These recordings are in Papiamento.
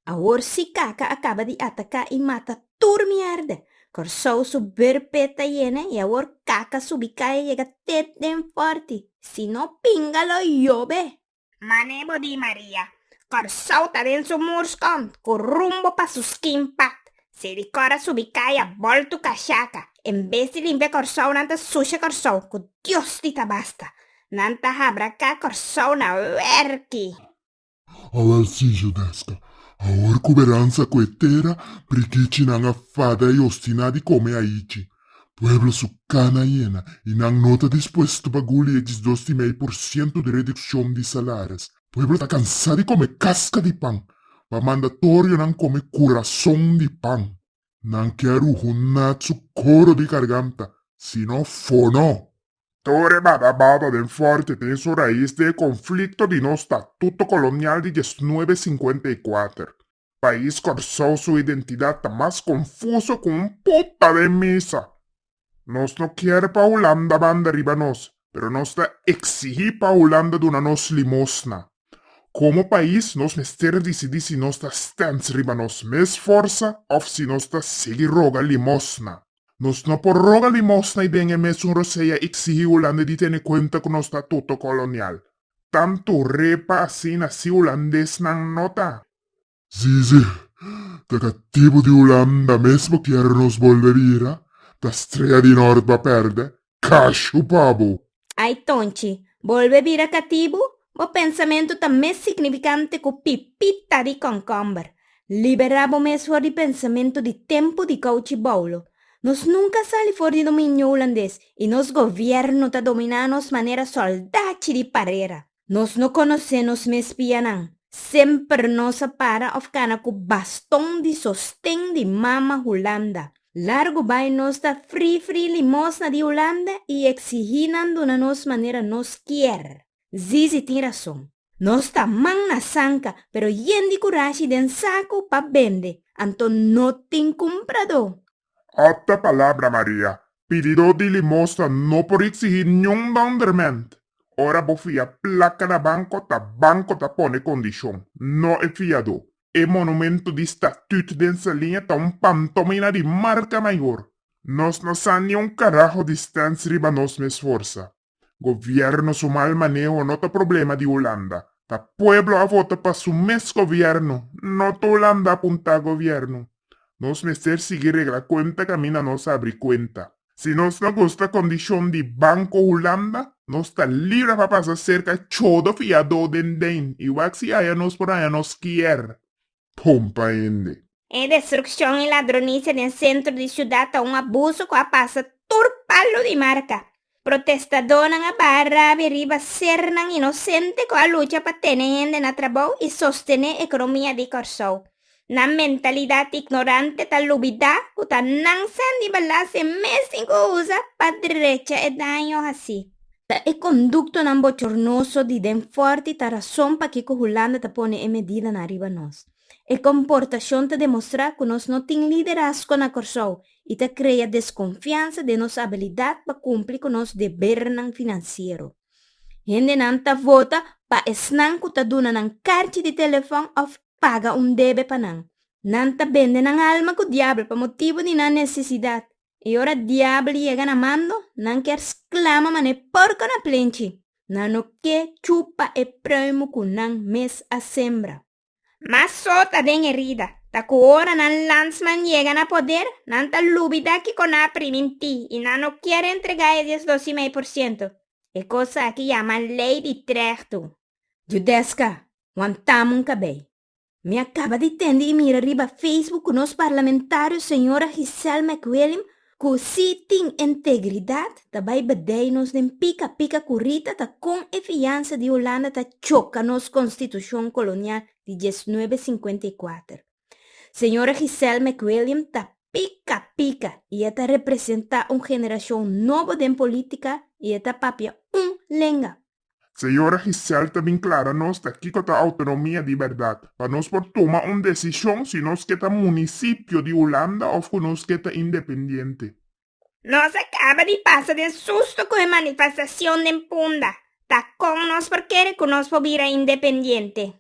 Awor si kaka a kaba di ataká i mata tur mièrda. Kòrsou su bèrpè ta yena i awor kaka subi kai a yega te den fòrti. Si no pinga lo yobe! Man'é bo di Maria, Kòrsou ta den su murskònt ku rumbo pa su skin pad. Si di cora subi caya bolto cachaca en bes di limpia Corsou nan ta sucia Corsou cu Dios di tabasta nan ta habra ca Corsou na werki. Awel Sijo Desca awor cu beransa cu e tera prikichi nan a fada y ostina di come ayichi pueblo su cana yena y nan no ta dispuesto pa guli e disdos di mei por ciento di reduccion di salaris Pueblo ta cansá di come casca di pan, pa mandatorionan come curazon di pan. Nan ke a ruhu nat su coro di garganta, sino fono. Tur e baba baba ben forte tin su rais den e conflicto di nos statuto colonial di diesnuebe cincuenta y kuater. Pais Corsou su identidad ta mas confuso cu un pupa den misa. Nos no kier pa Hulanda banda riba nos, pero nos ta exigi pa Hulanda duna nos limosna. Como pais nos mester dicidi si nos ta stens riba nos mes forsa of si nos ta sigui roga limosna. Nos no por roga limosna y den e mesun rosea exigi Hulanda di tene cuenta cu nos ta tuto colonial. Tanto repa asina si hulandesnan no ta. Sí, sí, ta ta tipo di Hulanda mesmo kier nos bolbe bira, ta Strea di Nort ba perde, cashu pa bo! Ai Tonchi, bolbe bira catibu? Bo pensamentu ta mes significante cu pipita di concomber. Liberá bo mes for di pensamentu di tempu di kouchi boulo. Nos nunka sali for di dominio hulandes i nos govièrnu ta dominá nos manera sòldachi di parera. Nos no konosé nos mes pianan. Semper nos a para òf kana ku baston di sosten di mama Hulanda. Largu bai nos ta fri fri limosna di Hulanda i eksigí nan duna nos manera nos kier. Zizi tin rason. Nos ta man na sanka, pero yen di kurashi den saku pa bende, anto no tin kumpradó. Opta palabra Maria, pididó di limosta no por iksihí niun nonderment. Ora bo fia plaka na banko, ta banko ta pone kondishon, no e fiadó. E monumentu di statüt den Saliña ta un pantomina di marka mayor. Nos no sa niun karaho di stents riba nos mes forsa. Gobierno su mal maneho no ta problema di Hulanda. Ta pueblo a vota pa su mes gobierno, no ta Hulanda a punta gobierno. Nos mester sigui regla cuenta caminda nos abri cuenta. Si nos no gusta condicion di Banco Hulanda, nos ta libre pa pasa cerca chodo fiado den den y wak si haya nos por haya nos kier. hompa hende. E destrukshon i ladronisia den sentro di siudat ta un abuso ku a pasa tur palu di marka. Protestadónan a baha rabi riba sernan inosente ku a lucha pa tene hende na trabou i sostené ekonomia di Kòrsou. Nan mentalidat ignorante ta lubidá ku ta nansan di balas e mes tin ku usa pa drecha e daño hasi. Ta e konduktonan bochornoso di den fòrti ta rason pakiko Hulanda ta pone e medidanan riba nos. E komportashon ta demostrá ku nos no tin liderasko na Kòrsou i ta krea deskonfiansa den nos abilidat pa kumpli ku nos debernan finansiero. Hendenan ta vota pa esnan ku ta duna nan karchi di telefòn òf paga un debe pa nan. Nan ta bende nan alma ku diabel pa motibu di nan nesesidat. I ora diabel yega na mando, nan kier sklama man'é porko na plenchi, nan no ke chupa e pruimo ku nan mes a sembra. Ma so ta den erida, ta ku ora nan landsman yega na poder, nan ta lubida kiko nan a primintí i nan no kier entregá e dies dos i mei por siento. E kos aki yama lei di trèhtu. Judeska, wantamun kabei. Mi a caba di tende y mira riba Facebook cu nos parlamentario señora Giselle McWilliam cu si tin integridad ta bay bedey nos den pica pica cu Rita ta con e fiansa di Hulanda ta choca nos constitucion colonial di diesnuebe cincuenta y cuater. Señora Giselle McWilliam ta pica pica y e ta representa un generacion nobo den politica y e ta papia un lenga. Señora Gisèle ta bin klara nos ta kiko ta outonomia di bèrdat, pa nos por tuma un desishon si nos ke ta munisipio di Hulanda òf ku nos ke ta independiente. Nos a kaba di pasa den susto ku e manifestashon den Punda, ta kon nos por kere ku nos por bira independiente.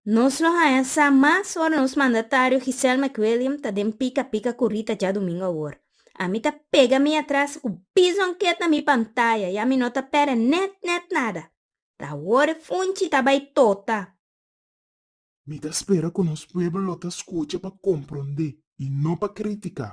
Nos lo haña sa mas ora nos mandatario Giselle McWilliam ta den pika pika ku Rita dja dumingu awor. Ami ta pega mi atras ku bison ket na mi pantaya i ami no ta pera net net nada. Ta awor e funchi ta bai tota. Mi ta spera ku nos pueblo lo ta skucha pa komprondé i no pa kritiká.